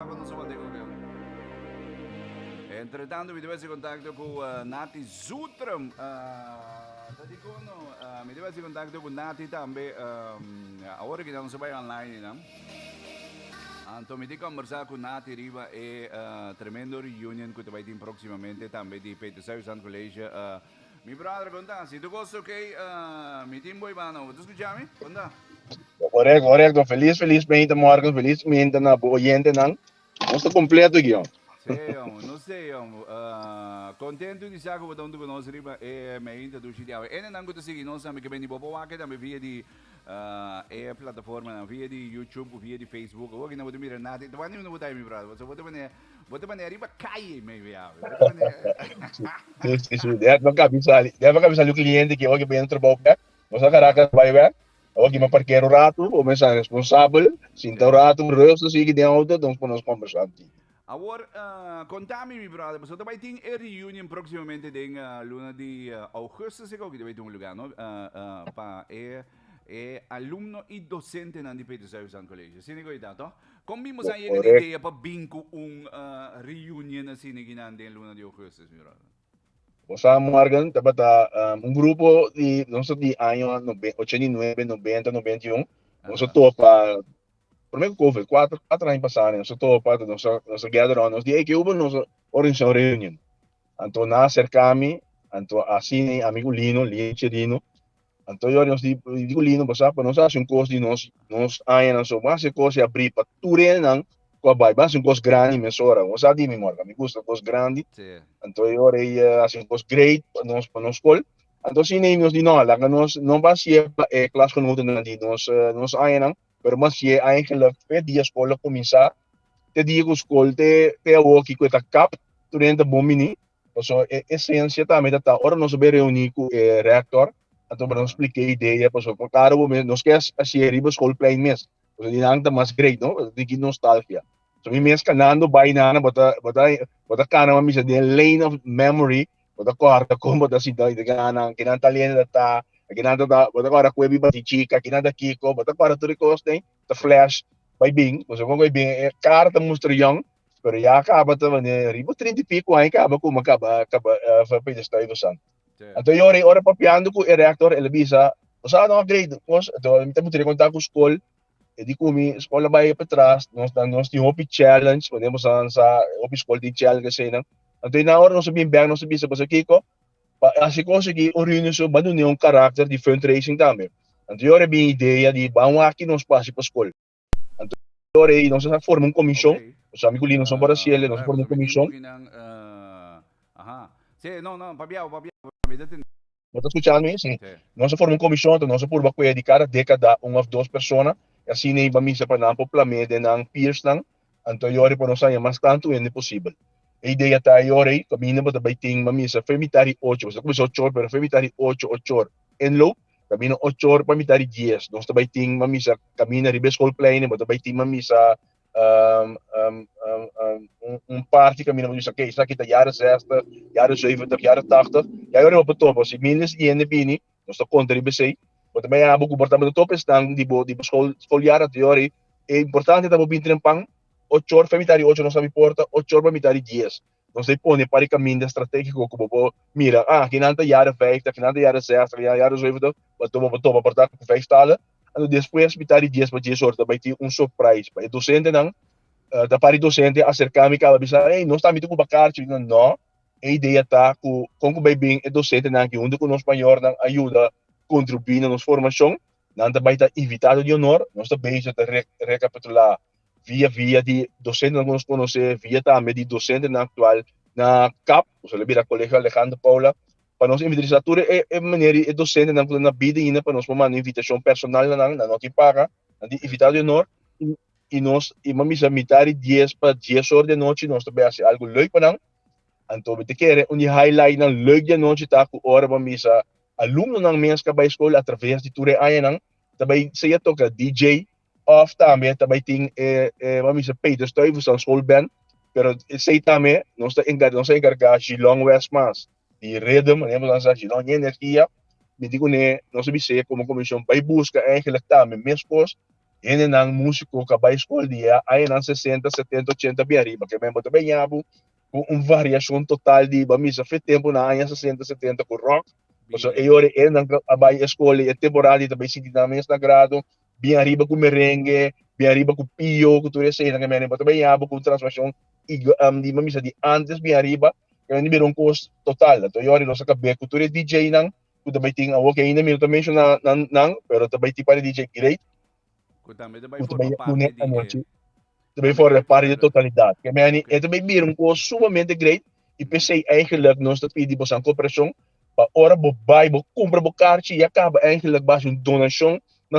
Tabata nos a wòrdu e gobierno. Entretanto mi debe haci contacto cu Nati Zutrum. Ah, ta di cono. Ah, mi debe haci contacto cu Nati tambe. ah, ahora que nos bai online, you know. Anto mi di conversa cu Nati riba e ah, tremendo reunion cu te bai tin proximamente tambe di Petersburg Sant College. ah, Mi brother konta, si tu gosta oké, mi tin boy baan over. Tu skucha mi? Konta. Korek, korek. To feliz, feliz meinta morgen, feliz meinta na bo oyentenan. Nos ta kompleto aki, jong. Sí, jong. Nos te, jong. Kontentu di sa ku bo ta huntu ku nos riba e meinta dushi di awe. Enenan ku ta sigui nos tambe, ke bini bo pa wak e tambe via di e plataformanan, via di YouTube ku via di Facebook. Awor aki no bo ta mira nada. Ta wak niun no bo ta, mi brother. Pasobra bo ta mira. Bo ta bane ariba caye me wea. Si, si, si. Dea no cabi sali. Dea no cabi sali un cliente ki oki bini trabao bek. Nos na Caracas bay bek. Oki mi a parkera un ratu. Bo mester sa responsabel. Sinta un ratu rustig sigi den auto ta nos pone nos combersa un tiki. Awor, conta mi mi brother, pasobra ta bay tin e reunion proximamente den luna di augustus e gauki ta bay tin un lugar, no? Pa e alumno y docentenan di Peter Stuyvesant College. Asina e goi ta, toh? Kon mi mos a yega di idea pa bin ku un reunion así neginan den luna di ougùstus, mi bròder? Bo sa, Morgan tabata un grupo di nos di año ochenta i nuebe, nobenta, nobenta i un. Nos a topa, promé ku kover, kuater, kuater aña pasá nos a topa, nos a, nos a gather rònt nos di, ey, ke ora nos organisá un reunion? Anto nan a serká mi, anto asina i amigu Lino, Lino Chirino. Anto Jorge nos dico lindo pasá pa nos hace un cos di nos nos añanan so mas e cos e abrí pa tur renan cu a bai bas un cos grandi mesora nos a di mi morga mi gusta cos grandi anto Jorge hace un cos great pa nos pa nos col anto si nei nos di no laga nos no ba siye pa e klasgenotennan di nos nos añanan pero mas siye aña geluk fe dia scol a cuminsá te dia cu scol te te awo kico e ta kap tur renen ta bon bini. Pasobra e esencia tambe ta ta ora nos a bai reuni cu e rector anto nos explica e idea pasobra pa cada un nos ke haci'e riba schoolplein mes pasobra di nan ta mas great no ta tin ki nostalgia so mi mes canando bai nan nan bo ta bo ta bo ta cana bo a bisa den lane of memory bo ta acorda di con bo ta sinta bo ta yega nan nan kinan talenta ta ta aki nan ta ta bo ta acorda cu a biba di chica aki nan ta kico bo ta acorda tur e cos den ta flash bai bin pasobra con bai bin e cara ta mustra young Pero ya caba ta vende riba trinta y pico aña caba kuma caba caba uh, fue pide estoy do santo. Anto yo rei ora papiando ku e rector ele bisa osa no grade kos anto mi te mutri kontak ku skol e di kumi skol bai pa tras nos dan nos tin hopi challenge wanneer mos aan sa hopi skol tin challenge sei nan anto na ora nos bin bang nos bisa basa kiko pa asi kos ki un reunion so bandu ne un karakter di fundraising tambe anto yo re bin idea di ban waki nos pasi pa skol Anto rei nos a forma un komishon, nos ami ku Linson Borrasiele nos a forma un komishon, bo ta skucha mi? Si, nos a forma un komishon anto nos a purba ku'e di kada dekada un òf dos persona i asina e bamisa pa nan por plam'é den nan peersnan Anto e ora ei por nos haña mas tantu hende posibel. E idea ta e ora ei kaminda bo ta bai tin mamisa fe mitá di ocho, bo sa ta kuminsá ocho or pero fe mitá di ocho, ocho or en lo kaminda ocho or pa mitá di dies nos ta bai tin mamisa kaminda riba e skolplein ei bo ta bai tin mamisa un parti kaminda bo ta bisa ke esaki ta yara zèstè, yara zùiventig, yara tàgtig ya e ora ei bo por topa si mil di esaki hende bini Nos ta konta riba esei. Bo ta mira bo komportamentu tur esnan di bo di bo skol skoliada tok yor ei. E importante ta bo bin trempan ocho or afe mitad di ocho nos ta abi porta ocho or pa mitad di dies. Nos ta e pone pasobra e kaminda stratégiko ku bo por mira a akinan ta yada vijf ta akinan ta yada zes ta akinan ta yada zwife ta bo ta bo por topa porta ku vijf tala. Anto despues mitad di dies pa dies ora ta bai tin un surprise pa e dosentenan. Ta para di dosente aserka mi kaba bisa ey no stami tin ku bakarchi? Nò. E idea ta cu con cu bay bin e docentenan aki hunto cu nos mayornan a yuda contribui na nos formacion, nan ta bay ta invitado di honor. Nos ta bezig ta recapitula via via di docentenan cu nos conoce, via tambe di docentenan actual na kap, cu esaki lo bira Colegio Alejandro Paula, pa nos invitrisa tur e meneer y e docentenan cu ta na bida aina pa nos por manda invitacion personal na nan, nan no tin paga, nan tin invitado di honor. y nos y mami sa mitad di dies pa dies ora di anochi nos ta bay haci algo leuk pa nan, anto mi ta kere un di highlightnan leuk di anochi ta cu ora mami sa alumnonan mes ka bay school atraves di tur e añanan ta bay siña toca DJ of tambe ta bay tin e e mami sa Peter Stuyvesant school band pero esey tambe nos ta encarga nos a encarga G-Long West mas. di rhythm nen nos a ginou ña energia miti cu ne nos a bis'é como comision bay busca eigenlijk tambe meskos hendenan musico cu a bay school di e añanan sesenta setenta ochenta bien riba ke men bo ta bay ñabu cu un variacion total di bo a misa fe tempo na aña sesenta setenta cu rock pasobra e ora hendenan a bay e school e temporada di ta bay sinti nan mes na grado Bien ariba cu merengue, bien ariba cu pio, cu tur eseinan ca mi a riba ta baña bo cu transformacion y di mamisa di antes bien ariba ca mi a mira un cos total. Anto yo ariba lo sa cabé cu tur e DJnan cu ta bay tin awo que ainda mi no ta menciona nan pero ta bay tin para e DJ great cu ta bay a pone anochi ta bay for parte di totalidad. Ca mi e ta bay bira un cos sumamente great y pesey eigenlijk nos ta pidi bosan cooperacion pa ora bo bay bo cumpra bo carchi ya caba eigenlijk basi un donacion na